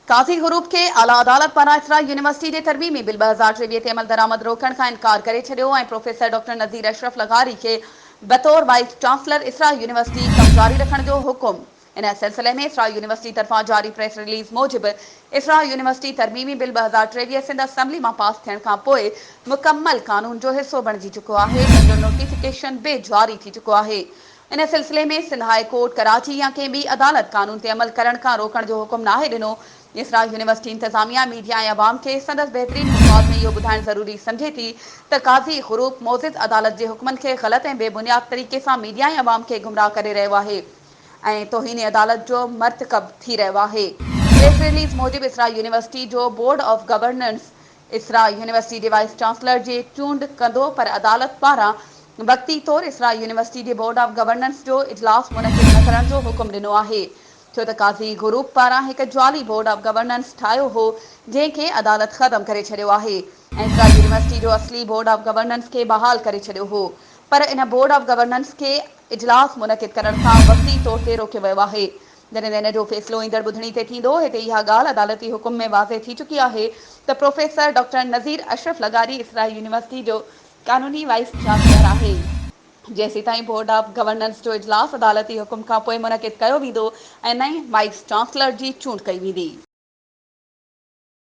قاضي حروف کي اعليٰ عدالت پاران اسرائيل يونيورسٽي جي ترميمي بل ٻه هزار ٽيويهه تي عملدرآمد روڪڻ کان انڪار ڪري ڇڏيو ۽ پروفيسر ڊاڪٽر نذير اشرف لغاري کي بطور وائيس چانسلر اسرائيل يونيورسٽي ڪم جاري رکڻ جو حڪم ان سلسلي ۾ اسرائيل يونيورسٽي طرفان جاري پريس رليز موجب اسرائيل يونيورسٽي ترميمي بل ٻه هزار ٽيويهه سنڌ اسمبلي مان پاس ٿيڻ کان پوء مڪمل قانون جو حصو بڻجي چڪو آهي جنهن جو نوٽيفڪيشن به جاري ٿي چڪو آهي ان سلسلي ۾ سنڌ هاء ڪورٽ ڪراچي يا ڪنهن ٻي عدالت قانون تي عمل ڪرڻ کان روڪڻ جو حڪم ناهي ڏنو، جيسرا يونيورسٽي انتظاميا ميڊيا ۽ عوام کي سندس بهترين مفاد ۾ اهو ٻڌائڻ ضروري سمجهي ٿي ته قاضي غروب معزز عدالت جي حڪمن کي غلط ۽ بي بنياد طريقي سان ميڊيا ۽ عوام کي گمراهه ڪري رهيو آهي ۽ توهين عدالت جو مرتڪب ٿي رهيو آهي. پريس رليز موجب اسرا يونيورسٽي جو board of governance Isra university جي وائيس چانسلر جي چونڊ ڪندو پر عدالت پاران وقتي طور اسرا يونيورسٽي جي بورڊ آف گورننس جو اجلاس منعقد نه ڪرڻ جو حڪم ڏنو آهي ڇو ته قاضي گروپ پاران هڪ جعلي بورڊ آف گورننس ٺاهيو هو جنهن کي عدالت ختم ڪري ڇڏيو آهي ۽ اسرا يونيورسٽي جو اصلي بورڊ آف گورننس کي بحال ڪري ڇڏيو هو پر ان بورڊ آف گورننس کي اجلاس منعقد ڪرڻ کان وقتي طور تي روڪيو ويو آهي جڏهن ته ان جو فيصلو ايندڙ ٻڌڻي تي ٿيندو. هتي اها ڳالهه عدالتي حڪم ۾ واضح ٿي چڪي آهي ته پروفيسر ڊاڪٽر نذير اشرف لغاري اسرائيل يونيورسٽي جو قانوني وائيس چانسلر آهي. جيسيتائين بورڊ آف گورننس جو اجلاس عدالتي حڪم کانپوء منعقد ڪيو ويندو ۽ نئين وائيس چانسلر جي چونڊ ڪئي ويندي.